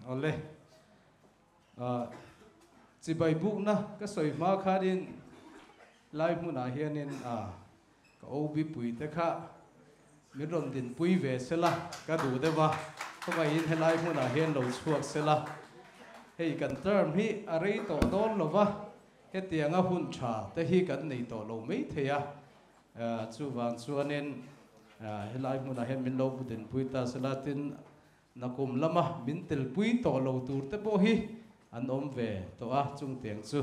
Awle chibai bukna ka sawi hma khanin lai hmunah hianin ka Obipui te kha min rawn dinpui ve se la ka duh deuh a, khawngaihin helai hmunah hian lo chhuak se la hei kan term hi a rei tawh dawn lo va. Hetianga hun tha te hi kan nei tawh lo mai thei a, chuvang chuanin helai hmunah hian min lo butin pui ta sela tin Nakum lama min telpui tawh lo tur te pawh hi an awm ve tawh a, chung tiang chu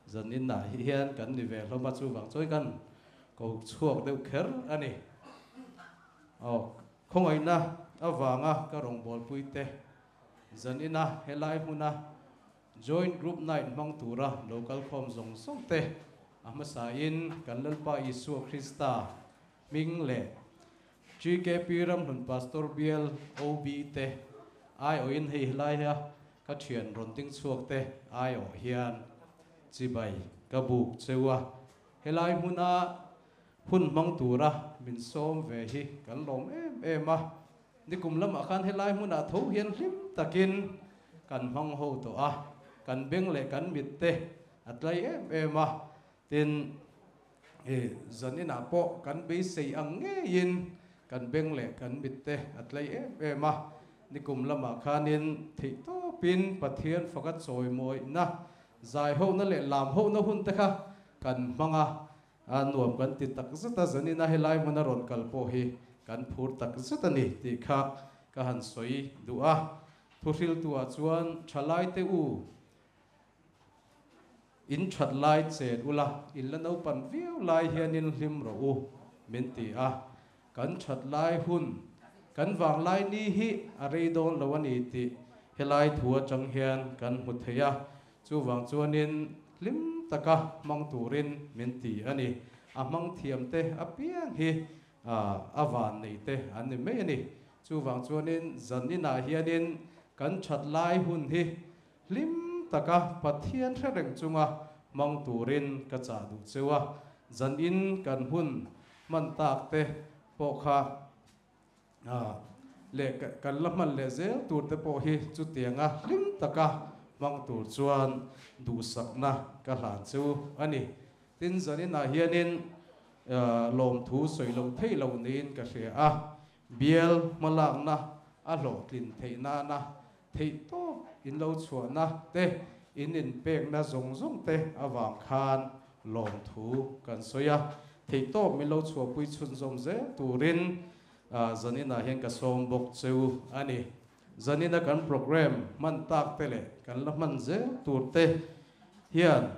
zan inah hi hian kan ni ve hlawm a, chuvang chuan kan ko chhuak deuh kher a ni. Aw, khawngaihna avanga ka rawngbawlpuite zan ina helai hmuna Joint Group Night hmang tura lo kalkhawm zawng zawng te a hmasa in kan Lalpa Isua Krista hming leh GKP ramhlun Pastor Bial OB te aiawh in hei helaia ka thian rawn ding chhuak te aiawh hian chibai ka buk cheu a, helai hmuna hun hmang tura min sawm ve hi kan lawm em em a. Ni kum lamah khan helai hmunah tho hian hlim takin kan hmang ho tawh a, kan beng leh kan mit te a tlai em em a, tin i zawn inah pawh kan beisei ang ngeiin kan beng leh kan mit te a tlai em em a, ni kum lamah khanin theih tawpin Pathian faka chawimawina, zai hona leh lam hona hun te kha kan hmang a, A nuam kan ti tak zet a, Zanina helai hmun a rawn kal pawh hi kan phur tak zet a ni tih kha ka han sawi duh a, thuhriltuah chuan thalaite u in that lai chet ula, in la naupan viau lai hianin hlim rawh u min ti a. kan that lai hun, kan vanglai ni hi a rei dawn lo a ni tih helai thu atang hian kan hmu thei a, chuvang chuanin hlim taka hmang turin min ti a ni. A hmang thiamte apiang hi a van neite an ni mai a ni. Chuvang chuanin zan inah hianin kan that lai hun hi Hlim taka Pathian hre reng chunga hmang turin ka chah duh cheu a, zan in kan hun hman tak te pawh kha leh kan la hman leh zel tur te pawh hi chutiang a hlim taka hmang tur chuan duhsakna ka hlan cheu a ni. Tin zan inah hianin lawmthu sawi lo theih lo niin ka hria a. Bial hmalakna a hlawhtlin theih nana theih tawp inlo chhuahna te in inpekna zawng zawng te avang khan lawmthu kan sawi a, theih tawp min lo chhuahpui chhunzawm zel turin Zanina hian ka sawm bawk chu a ni. Zanina kan programme hman tak te leh kan la hman zel tur te hian.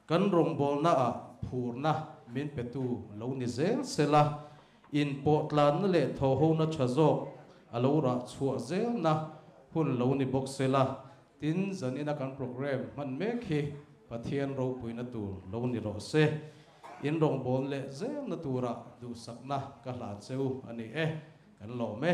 Kan rawngbawlna ah phurna min petu lo ni zel zel a, inpawhtlanna leh thawhona tha zawk a lo rah chhuah zelna hun lo ni bawk sela, tin zanina kan programme hman mek hi Pathian ropuina tur lo ni rawh se, in rawngbawlna leh zelna tura duhsakna ka hlan cheu a ni e, kan lawm e.